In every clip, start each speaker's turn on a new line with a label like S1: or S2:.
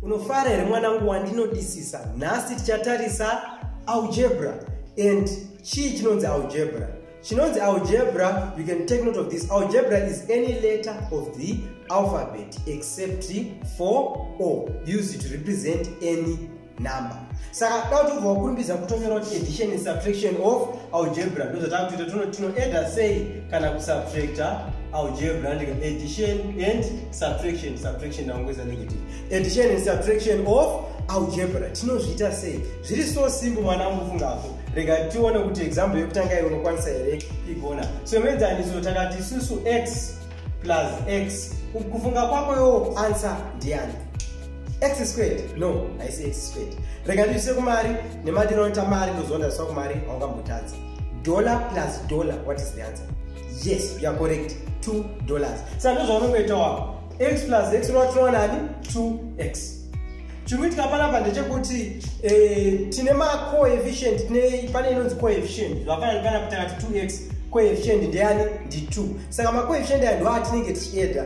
S1: unofara here mwanangu wandinodisisa nhasi tichatarisa algebra and chii chinonzi algebra chinonzi algebra you can take note of this algebra is any letter of the alphabet except for o used to represent any number saka da kuti ubva wakurumbidza kutonyora kuti addition and subtraction of algebra ndo zvatakutoita tono tinoedha sei kana kusubtracta algebra ndika addition and subtraction subtraction naungoisa negative addition and subtraction of algebra tinozviita sei zviri so simple mwana wangu fungapo rega tione kuti example yekutanga iyo unokwanisa here igona so imedzaniso takati isusu x plus x kufunga kwako yo answer ndiani x squared no haisi x squared rega ndiise kumari nemadiro anoita mari ndoziva ndaziswa kumari haungambotadzi dollar plus dollar what is the answer yes you are correct two dollars saka ndozvaunongoita wako x plus x unovatirova nani two x chiri kuitika panapa ndechekuti eh, tine macoefficient tine pane inonzi coefficient zvafanani panapa takati two x coefficient ndeyani ndi two saka macoefficient aya ndoatinenge tichieda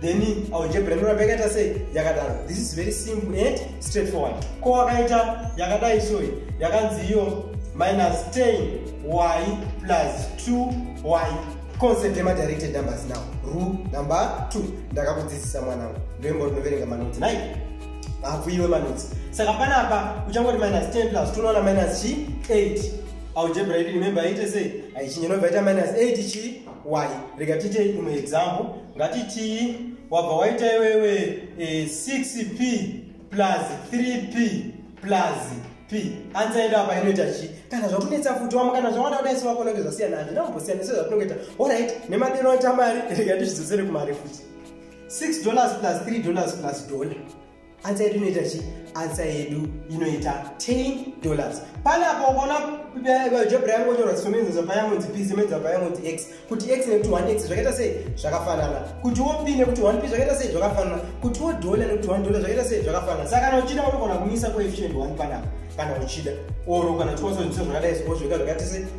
S1: then algebra inoramba yakaita sei yakadaro this is very simple and straight forward ko wakaita yakadai soyi yakanzi iyo minus 10 y plus 2 y concept yemadirected numbers now rule number 2 ndakakudzidzisa mwanangu ndoimbo ndinoverenga manotsi nai hafuiwe manotsi saka panapa uchangoti minus 10 plus 2 unoona minus chi 8 algebra yedu remember yaite sei aichinyenobva ita minus 8 chi why rega tiite imwe example ngatitii wabva waita iwewe e, eh, 6p plus 3p plus p ansa yedu apa inoita chi kana zvakunetsa futi wamo kana zvawanda kuda isu wakonenge zvasiyana hazvina kumbosiyana isu zvatinongoita orit nemadero aita mari rega tizvidzosere kumari futi 6 dollars plus 3 dollars plus dollar ansa yedu inoita chi ansa yedu inoita 10 dollars pane apo ukaona job rayangu onyorwa zisomenzenza payamunzi p zimenza payamunzi x kuti x nekuti 1 x zvakaita sei zvakafanana kuti wo p nekuti 1 p zvakaita sei zvakafanana kuti wo dollar nekuti 1 dollar zvakaita sei zvakafanana saka kana uchida unogona kumisa coefficient 1 panapa kana uchida oro kana chiwasoziso zvakadai zvokozvoita zvakaita sei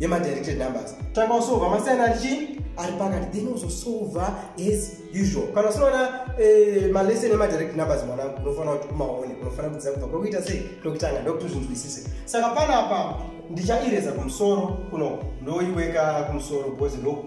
S1: yemadirected numbers tanga usova masiyana ari chii ari pakati then uzosova as usual kana usinoona eh, malesson emadirected numbers mwanangu unofanira kuti umaone unofanira kudzidza kubva kwekuita sei ndokutanga ndokuti uzvinzwisise saka panapa ndichaireza kumusoro kuno ndoiweka kumusoro because ndoku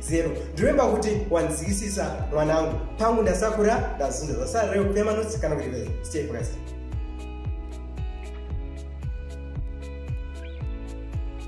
S1: zero ndoremba kuti wanzikisisa mwanangu pangu ndasakura ndazunza zasarire kupema notsi kana kuti vese stay focused